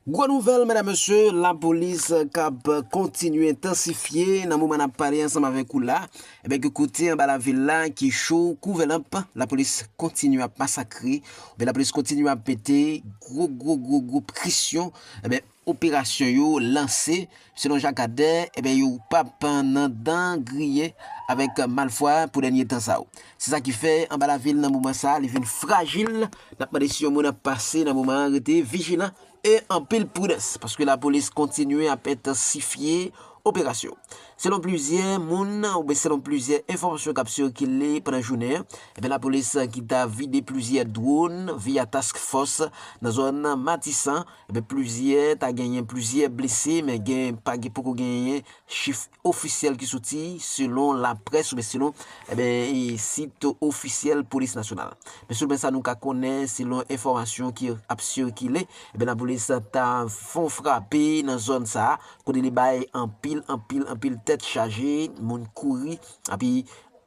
Gwo nouvèl medam mesye, la polis kap kontinye entansifye nan moman nap pale ansanm avèk ou la, ebyen ke kote anba lavil la ki cho kou vè lanp, la polis kontinye ap masakre, ebyen la polis kontinye ap mete gwo gwo gwo gwo presyon, ebyen operasyon yo lanse Selon Jacques Adder, ebyen yo pap nan dan griye avèk malfwa pou dènye tan sa yo. Se sa ki fè anba lavil nan moman sa li vin frajil, n ap mande si yon moun ap pase nan moman an rete vijilan e anpil pridans paske lapolis kontinye ap entansifye operasyon. Selon plizyè moun oubyen selon plizyè enfòmasyon k ap sikile pandan jounen an, ebyen lapolis ki ta vide plizyè dwòn via task fòs nan zòn Matisan Ebyen plizyè ta genyen plizyè blese men gen pa gen poko genyen chif ofisyèl ki soti selon laprès oubyen selon ebyen sit ofisyèl polis nasyonal. Men selon sa nou ka konnen selon enfòmasyon ki ap sikile ebyen lapolis ta fon frape nan zòn sa kote li bay anpil anpil anpil tèt chaje moun kouri epi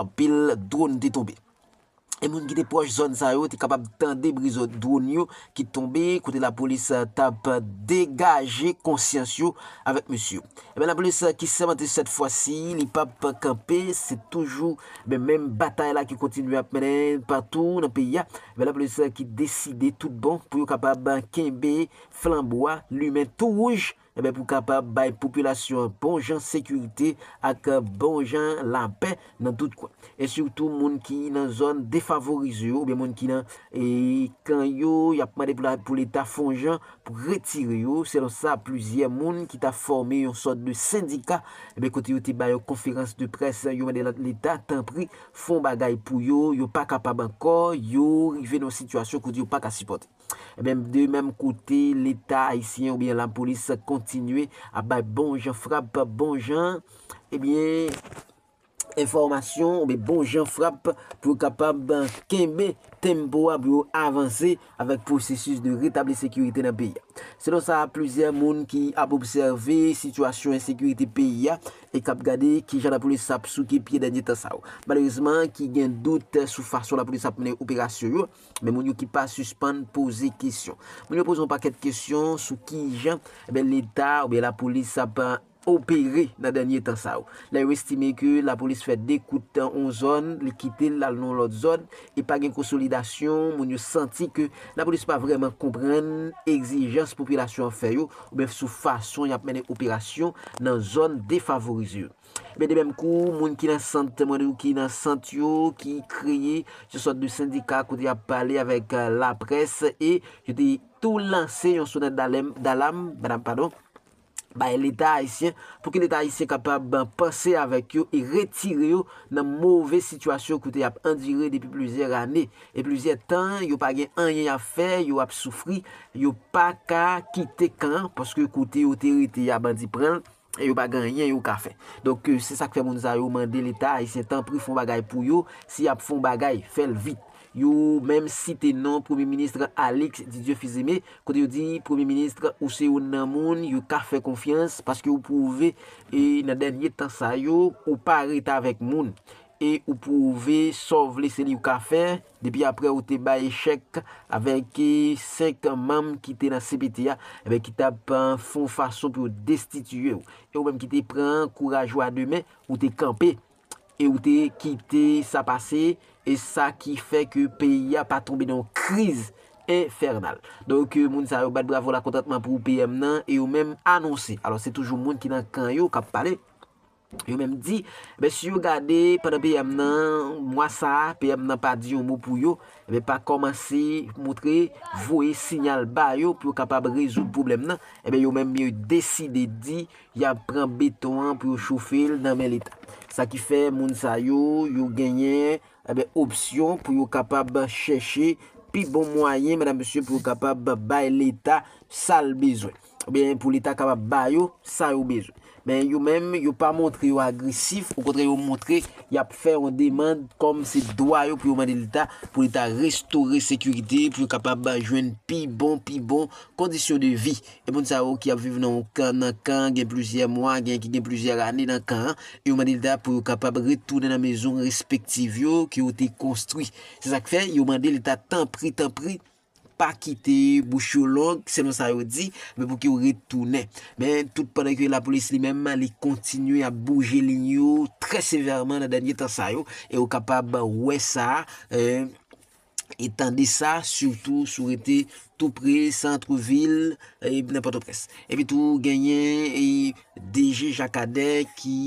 anpil dron te tonbe. e moun ki te pwòch zòn sa yo te kapab tande bri dwon yo ki t tonbe kote lapolis tap degaje konsyans yo avèk mesye yo. Enben lapolis ki sèmante sèt fwa si li pap kanpe se toujou men menm batay la ki kontinye ap mennen patou nan peyi a, enben lapolis ki deside tout bon pou yo kapab kenbe flanbo a limen tou wouj. Enben pou kapab bay popilasyon an bon jan sekirite ak bon jan lapè nan tout kwen. E sitou moun ki nan zòn defavorize yo oubyen moun ki nan kan yo, y ap mande pou leta fon jan pou retire yo. Selon sa plizyè moun ki ta fòme yon sòt de sendika, enben kote yo te bay yon konferans de près, yo mande leta tanpri fon bagay pou yo, yo pa kapab ankò, yo rive nan yon sitiyasyon kote yo pa ka sipòte. Ebyen de menm kote leta ayisyen oubyen lapolis kontinye ap bay bon jan frap bon jan ebyen enfòmasyon oubyen bon jan frap pou yo kapab kenbe tempo a pou yo avanse avèk pwosesis de retabli sekirite nan peyi a. Selon sa plizyè moun ki ap obsève sitiyasyon ensekirite peyi a e k ap gade kijan lapolis ap souke pye dènye tan sa yo malerezman ki gen dout sou fason lapolis ap mennen operasyon yo, Men moun yo ki pa sispann poze kesyon. Moun yo poze yon pakèt kesyon sou ki jan leta oubyen lapolis ap opere nan dènye tan sa yo. Lè yo estime ke lapolis fè 2 kout nan yon zòn, li kite l l al nan yon lòt zòn e pa gen konsolidasyon, moun yo santi ke lapolis pa vrèman konprann egzijans popilasyon an fè yo oubyen sou fason y ap mennen operasyon nan zòn defavorize yo. Ebyen de menm kou moun ki nan sant, mwen di ou ki nan sant yo, ki kreye yon sòt de sendika kote y ap pale avèk laprès e yo te tou lanse yon sonèt dalèm, dalam, dalam padon, bay leta ayisyen pou ke leta ayisyen kapab panse avèk yo e retire yo nan move sitiyasyon kote y ap andire depi plizyè ane e plizyè tan, yo pa gen anyen y ap fè, yo ap soufri, yo pa ka kite kan an paske kote yo te rete a bandi pran l. E yo pa gen anyen yo ka fè. Donk se sak fè moun sa yo mande leta ayisyen tanpri fon bagay pou yo, si yap fon bagay fèl vit. Yo menm site non premye ministre Alix Didieu Fils-Aimé kote yo di premye ministre ou se youn nan moun yo ka fè konfyans paske ou pwouve e nan dènye tan sa yo ou pa ret avèk moun e ou pwouve sa w vle se li ou ka fè. Depi aprè ou te bay chèk avèk 5 manm ki te nan cpt a, enben ki tap fon fason pou yo destitiye ou. E ou menm ki te pran kouraj ou a 2 men, ou te kanpe e ou te kite sa pase e sa ki fè ke peyi a pa tonbe nan yon kriz enfènal. Donk moun sa yo bat bravo lakontantman pou PM nan e yo menm anonse. Alò se toujou moun ki nan kan yo kap pale. Yo menm di, men si yo gade pandan PM nan mwa sa a, PM nan pa di yon mo pou yo, men pa kòmanse montre voye sinyal ba yo pou yo kapab rezoud pwoblèm nan, enben yo menm yo deside di y ap pran beton an pou yo chofe l nan men Leta. Sa ki fè moun sa yo, yo genyen opsyon pou yo kapab chèche pi bon mwayen, medam mesye, pou yo kapab bay Leta sa l bezwen. Oubyen pou li ta kapab ba yo sa yo bezwen. Men yo menm, yo pa montre yo agresif, okontrè yo montre y ap fè yon demand kòm se dwa yo pou yo mande leta pou li ta restore sekirite, pou yo kapab jwenn pi bon, pi bon kondisyon de vi. E moun sa yo ki ap viv nan yon kan, nan kan gen plizyè mwa, gen ki gen plizyè ane nan kan an, e yo mande leta pou yo kapab retounen nan mezon respektiv yo ke yo te konstwi. Se sa k fè yo mande leta tanpri, tanpri, Pa kite bouch yo long, selon sa yo di, men pou ki yo ret tounen. Men, tout pandan ke lapolis li menm, li kontinye ap bouje liy yo trè sevèman nan dènye tan sa yo, e ou kapab wè sa, e tande sa, sitou si w rete tou pre santre vil nan Pòtoprens. Epi tou, genyen DG Jakadè ki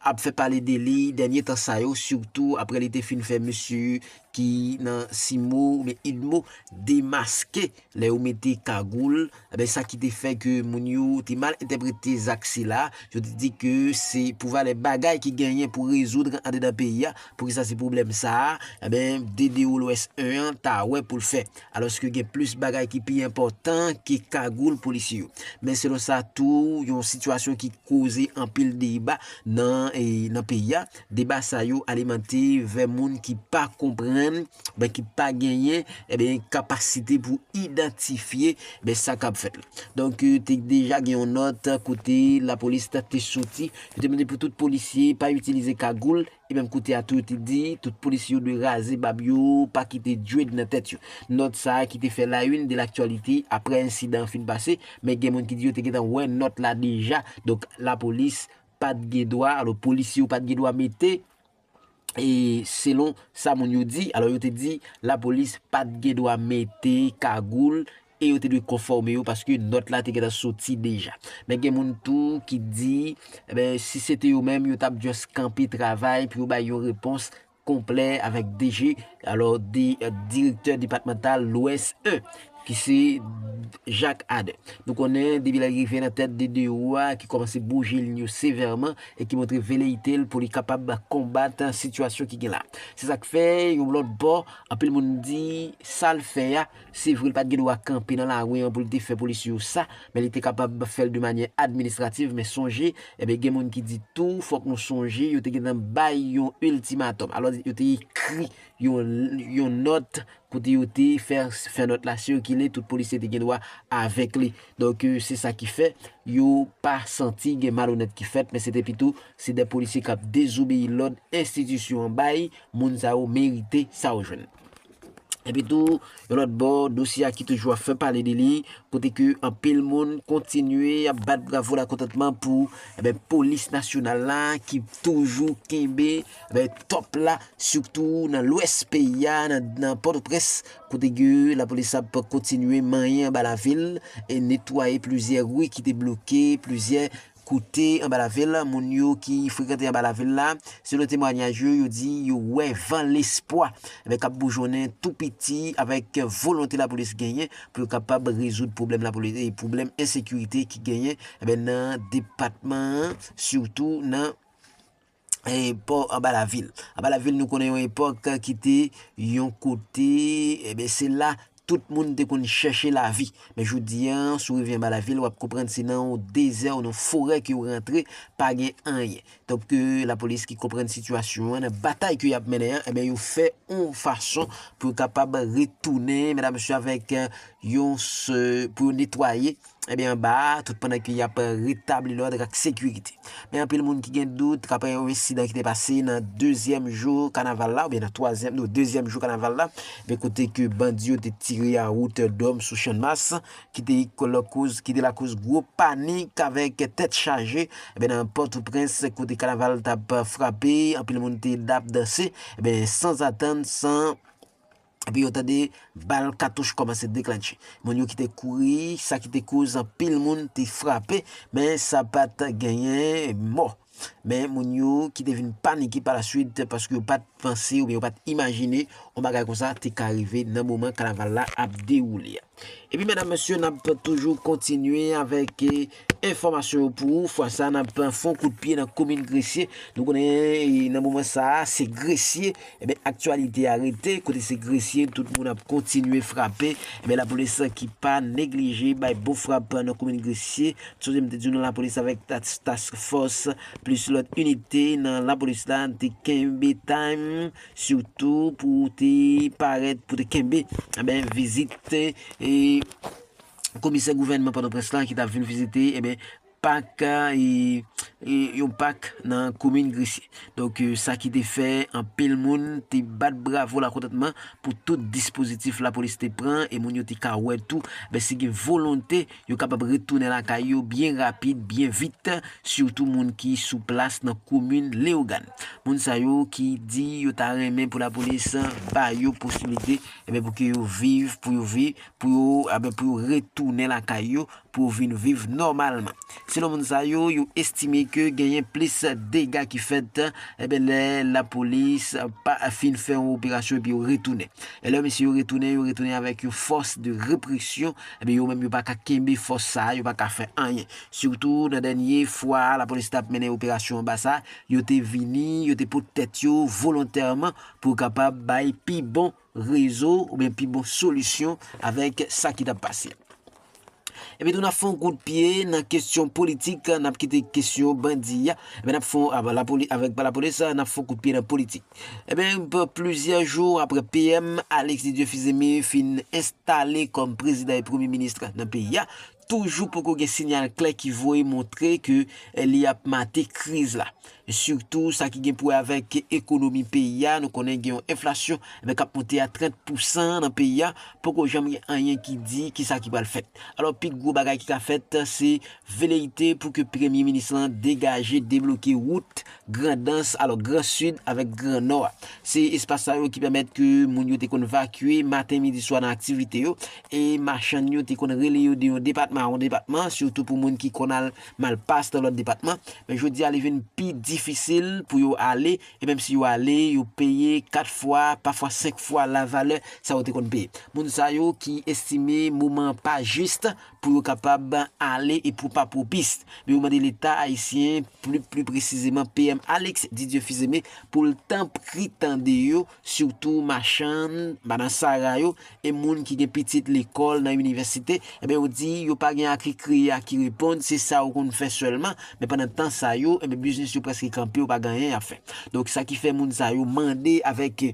ap fè pale de li dènye tan sa yo sitou aprè li te fin fè mesye ki nan Cimo oubyen Udmo demaske lè yo mete kagoul enben sa ki te fè ke moun yo te mal entèprete zak sila yo te di ke se pou valè bagay ki genyen pou rezoud andedan peyi a poukisa se pwoblèm sa enben DDOLOS 1 an ta wè pou l fè Alòske gen plis bagay ki pi enpòtan ke kagoul polisye yo. Men selon sa tou yon sitiyasyon ki koze anpil deba nan peyi a, deba sa yo alimante vè moun ki pa konprann oubyen ki pa genyen kapasite pou idantifye sa k ap fèt la. Donk te deja gen yon nòt kote lapolis te soti, yo te mande pou tout polisye pa itilize kagoul E menm kote a tou yo te di tout polisye yo dwe raze bab yo, pa kite dread nan tèt yo. Nòt sa ki te fè la une de l'actualité aprè ensidan an fin pase, men gen moun ki di yo te gentan wè nòt la deja, donk lapolis pat gen dwa, alo polisye yo pat gen dwa mete, e selon sa moun yo di, alo yo te di lapolis pat gen dwa mete kagoul e yo te dwe konfòme yo paske nòt la te gentan soti deja. Men gen moun tou ki di, enben, si se te yo menm, yo t ap just kanpe travay pou yo bay yon repons konplè avèk DG, alò, Direktè Depatmantal Lwès 1, ki se Jacques Ader. Nou konnen, depi lè l rive nan tèt DDO a, ki kòmanse bouje lin yo sevèman e ki montre veleyite l pou li kapab konbat sitiyasyon ki gen la. Se sa k fè, yon lòt bò, anpil moun di, sa l fè a, Se vre, li pa t gen dwa kanpe nan lari an pou l te fè polisye yo sa, men li te kapab fè l de manyè administrativ, men sonje, enben gen moun ki di tou, fòk nou sonje, yo te gen tan bay yon iltimatòm, alò yo te ekri yon yon nòt kote yo te fè fè nòt la sikile, tout polisye te gen dwa avèk li. Donk, se sa ki fè, yo pa santi gen malonèt ki fèt, men se te pito, se de polisye k ap dezobeyi lòd enstitisyon an bay, moun sa yo merite sa yo jwenn. Epi tou, yon lòt bò, dosye a ki toujou ap fè pale de li, kote ke anpil moun kontinye ap bat bravo lakontantman pou eh polis nasyonal la ki toujou kenbe eh tòp la, sitou nan lwès peyi a, nan Pòtoprens, kote ke lapolis ap kontinye manyen anba lavil, e netwaye plizyè ri ki te bloke, plizyè. Kote anba lavil, moun yo ki frekante anba lavil la, selon temwanyaj yo, yo di yo wè van lespwa k ap boujonnen tou piti avèk volonte lapolis genyen pou yo kapab rezoud pwoblèm ensekirite ki genyen nan depatman an sitou nan pò anba la vil. Anba la vil nou konnen yon epòk ki te yon kote eh se la tout moun te konn chèche lavi. Men jodi a, si w rive anba la vil, w ap konprann se nan yon dezè ou nan yon forè ke w rantre, pa gen anyen. Donk lapolis ki konprann sitiyasyon an, nan batay ke y ap mennen an, yo fè yon fason pou yo kapab retounen, medam mesye, avèk yon, pou yo netwaye. Ebyen anba a, tout pandan ke y ap retabli lòd ak sekirite. Men anpil moun ki gen dout aprè yon ensidan ki te pase nan dezyèm jou kanaval la oubyen nan twazyèm non dezyèm jou kanaval la ebyen kote ke bandi yo te tire a wotèdòm sou channmas ki te lakoz ki te lakoz gwo panik avèk tèt chaje ebyen nan pòtoprens kote kanaval t ap frape anpil moun te dap danse ebyen sanzatann san epi yo tande bal katouch kòmanse deklannche. Moun yo ki te kouri, sa ki te koz anpil moun te frape, men sa pa t genyen mò. Men moun yo ki te vin panike palaswit paske yo pa t panse oubyen yo pa t imajine yon bagay konsa te ka rive nan moman kanaval la ap dewoule a. Epi medam mesye nap toujou kontinye avèk enfòmasyon yo pou ou fwa sa nap fon kout pye nan komin gresye nou konnen nan moman sa se gresye ebyen aktyalite a rete kote se gresye tout moun ap kontinye frape ebyen lapolis ki pa neglije bay bon frap nan komin gresye sonje m te di w nan lapolis avèk task fòs plis lòt inite nan lapolis la te kenbe time Sitou pou w te parèt pou te kenbe vizit komisè gouvènman Pòtoprens la ki t ap vin vizite pak, yon pak nan komin Gresye. Donk sa ki te fè anpil moun te bat bravo lakontantman pou tout dispozitif lapolis te pran e moun yo te ka wè tou si gen volonte Yo kapab retounen lakay yo byen rapid, byen vit, sitou moun ki sou plas nan komin Leyogàn. Moun sa yo ki di yo ta renmen pou lapolis ba yo posibilite pou ke yo viv, pou yo vi, pou yo pou yo retounen lakay yo, pou yo vin viv nòmalman. Selon moun sa yo, yo estime ke genyen plis dega ki fèt lè lapolis pa fin fè yon operasyon epi yo retounen. E lè mesye yo retounen, yo retounen avèk yon fòs de represyon. Ebyen yo menm yo pa ka kenbe fòs sa a, yo pa ka fè anyen. Sitou nan dènye fwa lapolis t ap mennen operasyon anba sa, yo te vini, yo te pot tèt yo volontèman pou yo kapab bay pi bon rezo oubyen pi bon solisyon avèk sa ki t ap pase a. Epi tou n ap fè yon kout pye nan kesyon politik, n ap kite kesyon bandi a, epi n ap fè yon, avèk lapolis, n ap fè yon kout pye nan politik. Ebyen, plizyè jou aprè PM Alexis Dieu-Fils-Aimé fin enstale kòm prezidan e premye minis nan peyi a, toujou poko gen sinyal klè ki voye montre ke li ap mate kriz la. Sitou sa ki gen pou wè avèk ekonomi peyi a, nou konnen gen yon enflasyon k ap monte a 30 pou san nan peyi a, poko janm gen anyen ki di kisa ki pral fèt. Alò pi gwo bagay ki ka fèt se veleite pou ke premye minis lan degaje, debloke wout Grandans, alò Gran Sid avèk Gran Nò a. Se espas sa yo ki pèmèt ke moun yo te konn vakye maten, midi, swa nan aktivite yo, e machann yo te konn rele yo de yon depatman a yon depatman, sitou pou moun ki konn al Malpas nan lòt depatman. Men jodi a li vin pi difisil pou yo ale, e menm si yo ale, yo peye 4 fwa, pafwa 5 fwa lavalè sa yo te konn peye. Moun sa yo ki estime moman an pa jis, pou yo kapab ale e pou pa pwopis. Yo mande leta ayisyen, pli pli presizeman PM Alex Didieu Fils-Aimé pou l tanpri tande yo, sitou machann, madan sara yo e moun ki gen pitit lekòl nan inivèsite, enben yo di yo pa gen aki kreye aki reponn se sa ou konn fè sèlman, men pandan tan sa yo, enben biznis yo prèske kanpe yo pa gen anyen y ap fè. Donk sa ki fè moun sa yo mande avèk.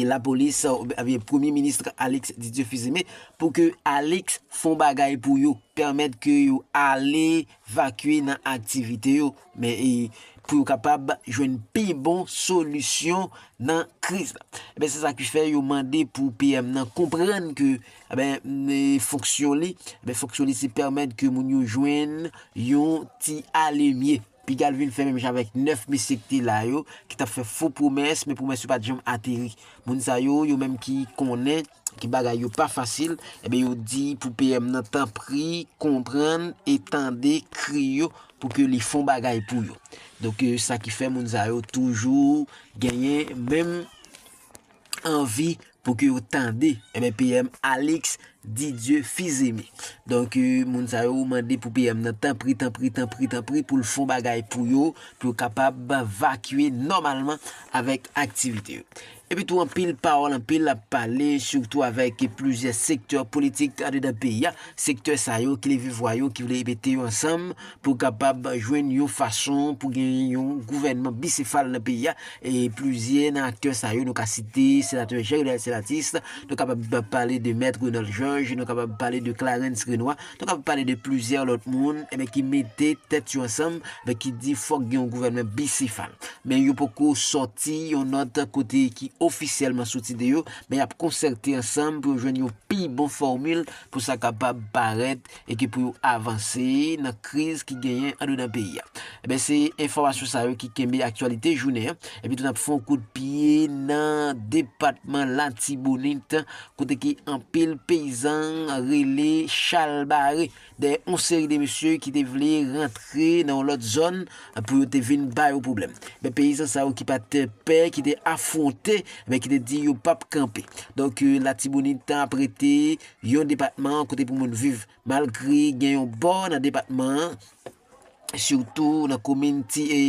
lapolis oubyen premye minis Alix Didier Fils-Aimé pou ke Alix fon bagay pou yo pèmèt ke yo ale vakye nan aktivite yo men pou yo kapab jwenn pi bon solisyon nan kriz la. Ebyen se sa ki fè yo mande pou PM nan konprann ke fonksyon li fonksyon li se pèmèt ke moun yo jwenn yon ti alemye. Pigalle vin fè menm jan avèk 9 mesye ki te la yo, ki t ap fè fo pwomès, men pwomès yo pa t janm ateri. Moun sa yo, yo menm ki konnen ke bagay yo pa fasil, enben yo di pou PM nan tanpri konprann e tande kri yo pou ke li fon bagay pou yo. Donk sa ki fè moun sa yo toujou genyen menm. anvi pou ke yo tande enben PM Alix Didieu Fils-Aimé. Donk moun sa yo mande pou PM nan tanpri, tanpri, tanpri, tanpri pou l fon bagay pou yo, pou yo kapab vakye nòmalman avèk aktivite yo. Epi tou anpil pawòl, anpil ap pale sitou avèk plizyè sektè politik andedan peyi a, sektè sa yo ki leve vwa yo, ki vle mete yo ansanm pou kapab jwenn yon fason pou gen yon gouvènman bisefal nan peyi a, e plizyè nan aktè sa yo nou ka site senatè Jean Renald Selatis, nou kapab pale de mèt Renald Georges, nou kapab pale de Clarens Renois, nou kapab pale de plizyè lòt moun enben ki mete tèt yo ansanm enben ki di fòk gen yon gouvènman bisefal. Men yo poko sòti yon nòt kote ki ofisyèlman soti de yo, men y ap konsète ansanm pou yo jwenn yon pi bon fòmil pou sa kapab parèt e ki pou yo avanse nan kriz ki genyen andedan peyi a. Enben se enfòmasyon sa yo ki kenbe aktyalite jounen an. Epi tou nap fè yon kout pye nan depatman Latibonit kote ke anpil peyizan rele chal bare dèyè yon seri de mesye ki te vle rantre nan yon lòt zòn pou yo te vin ba yo pwoblèm. Enben peyizan sa yo ki pa te pè, ki te afwonte, enben ki te di yo pap kanpe. Donk Latibonit ap rete Yon depatman kote pou moun viv. Malgre gen yon bò nan depatman an, sitou nan komin ti e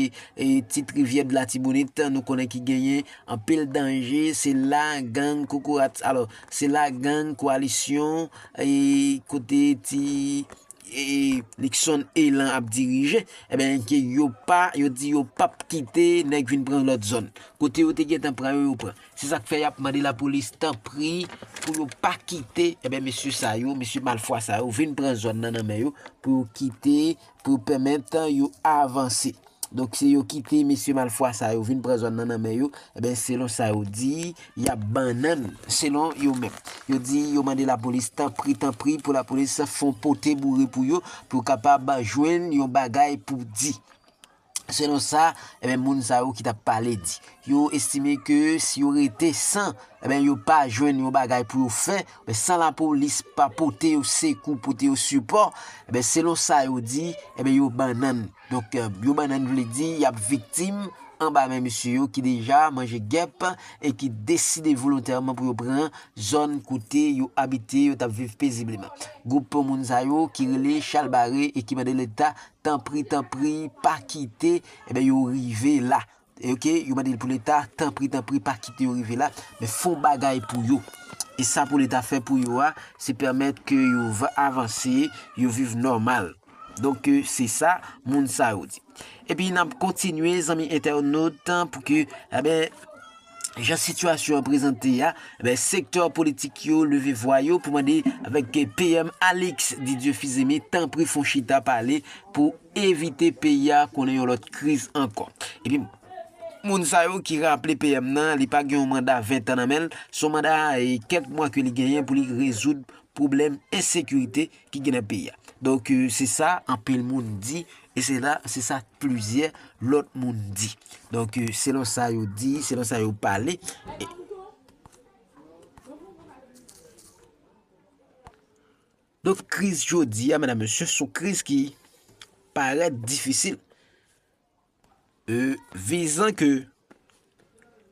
Ti Trivyè de Latibonit, nou konnen ki genyen anpil danje, se la gang kokorat, alò, se la gang koalisyon e kote ti e Niksonn Elan ap dirije, enben ke yo pa, yo di yo pap kite nèg vin pran lòt zòn. Kote yo te gentan pran yo, yo pran. Se sak fè yap mande lapolis tanpri pou yo pa kite enben mesye sa yo, mesye malfwa sa yo vin pran zòn nan nan men yo pou yo kite pou yo pèmèt yo avanse. Donk se yo kite mesye malfwa sa yo vin pran zòn nan nan men yo enben selon sa yo di yap bannann selon yo menm. Yo di yo mande lapolis tanpri tanpri pou lapolis fon pote boure pou yo pou yo kapab jwenn yon bagay pou di. selon sa moun sa yo ki tap pale di. Yo estime ke si yo rete san yo pa jwenn yon bagay pou yo fè, san lapolis pa pote yo sekou, pote yo sipò, selon sa yo di, yo bannann. Donk yo bannann vle di yap viktim anba men mesye yo ki deja manje gèp e ki deside volontèman pou yo pran zòn kote yo abite, yo tap viv pezibleman. Gwoup moun sa yo ki rele chalbare e ki mande leta. Tanpri tanpri pa kite eh yo rive la ok yo mande pou leta tanpri tanpri pa kite yo rive la men fon bagay pou yo e sa pou leta fè pou yo a se pèmèt ke yo avanse yo viv nòmal donk se sa moun sa yo di epi nap kontinye zanmi entènot pou ke eh Jan sitiyasyon an prezante a, sektè politik yo leve vwa yo pou mande avèk PM Alix Didier Fils-Aimé tanpri fon chita pale pou evite peyi a konnen yon lòt kriz ankò. Epi moun sa yo ki raple PM nan li pa gen yon manda 20 tan nan men l, son manda kèk mwa ke li genyen pou li rezoud pwoblèm ensekirite, ki gen nan peyi a. Donk se sa anpil moun di e se la se sa plizyè lòt moun di. Donk selon sa yo di, selon sa yo pale. Donk kriz jodi a, mèdam mesye, sou kriz ki parèt difisil. Vizan ke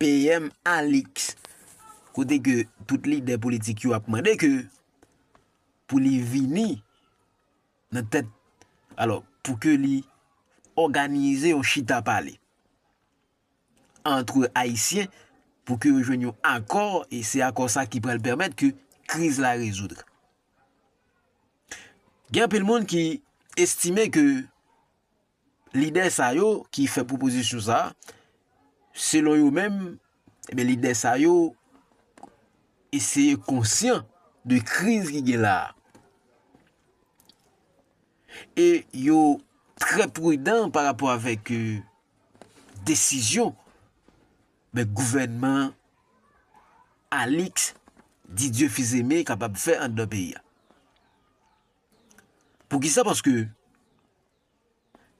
PM Alix, kote ke tout lidè politik yo ap mande ke pou li vini nan tèt, alò pou ke li òganize yon chita pale antre Ayisyen pou ke yo jwenn yon akò e se akò sa ki pral pèmèt ke kriz la rezoudre. Gen anpil moun ki estime ke Lidè sa yo ki fè pwopozisyon sa, selon yo menm, ebyen lidè sa yo eseye konsyan de kriz ki gen la. E yo trè prudan pa rapò avèk euh, desizyon men gouvènman Alix Didieu Fils-Aimé kapab fè anndan peyi a. Poukisa? Paske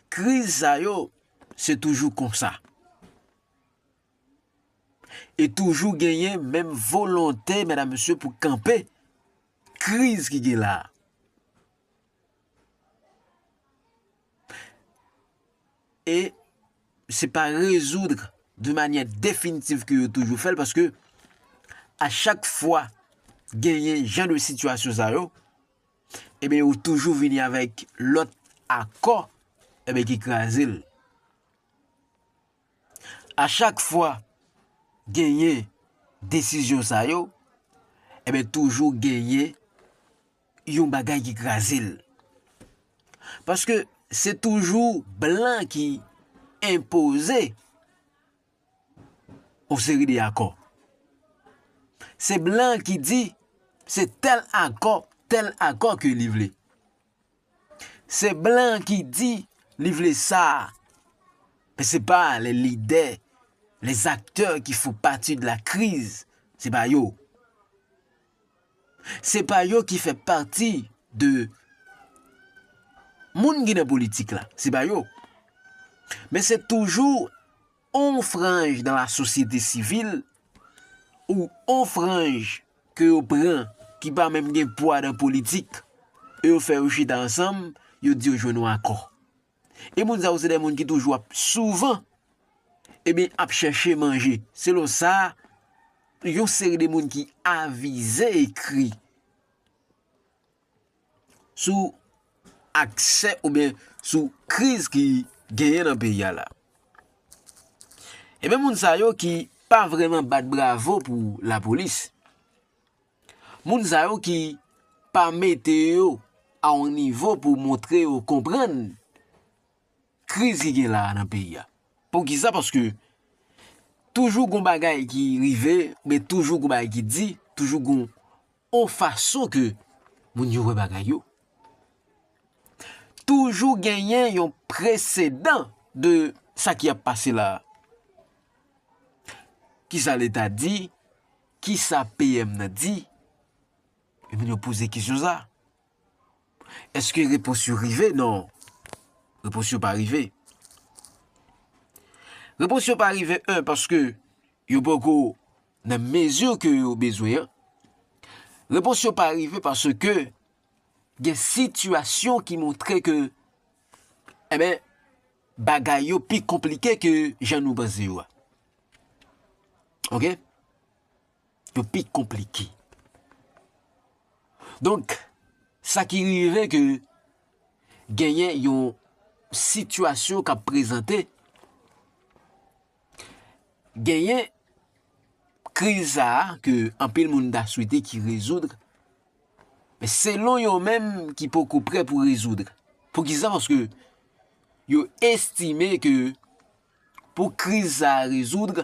kriz sa yo se toujou konsa. E toujou genyen menm volonte medam mesye pou kanpe kriz ki gen la. E se pa rezoudre de manye definitiv ke yo toujou fel paske a chak fwa genyen jan de sitiyasyon sa yo. Ebyen yo toujou vini avèk lòt akò ebyen ki kraze l. A chak fwa genyen desizyon sa yo, ebyen toujou genyen yon bagay ki kraze l. Paske se toujou blan ki enpoze yon seri de akò. Se blan ki di, se tèl akò, tèl akò ke li vle. Se blan ki di, li vle sa. Men se pa le lidè, le zaktè ki fou pati de la kriz, se pa yo. Se pa yo ki fè pati de moun ki nan politik la. Se pa yo. Men se toujou yon franj nan la sosyete sivil ou yon franj ke yo pran ki pa menm gen pwa nan politik e yo fè yo chita ansanm, yo di yo jwenn yon akò. E moun sa yo se de moun ki toujou ap souvan ebyen ap chèche manje. Selon sa yon seri de moun ki avize ekri sou aksè oubyen sou kriz ki genyen nan peyi a la. Ebyen moun sa yo ki pa vreman bat bravo pou lapolis. Moun sa yo ki pa mete yo a yon nivo pou montre yo konprann kriz ki gen la a nan peyi a. Poukisa? Paske toujou gon bagay ki rive, oubyen toujou gon bagay ki di, toujou gon yon fason ke moun yo wè bagay yo. Toujou genyen yon presedan de sa ki ap pase la a. Kisa leta di? Kisa PM nan di? E moun yo poze kesyon sa. Eske repons yo rive? Non. Repons yo pa rive. Repons yo pa rive, 1, paske yo poko nan mezi ke yo bezwen an. Repons yo pa rive paske gen sitiyasyon ki montre ke eh ben, bagay yo pi konplike ke jan nou panse yo a. Ok? Yo pi konplike. Donk, sa ki rive ke genyen yon sitiyasyon ka prezante, genyen kriz sa a ke anpil moun ta swete ki rezoudre, Men selon yo menm ki poko prè pou rezoud. Poukisa paske yo estime ke pou kriz sa a rezoud.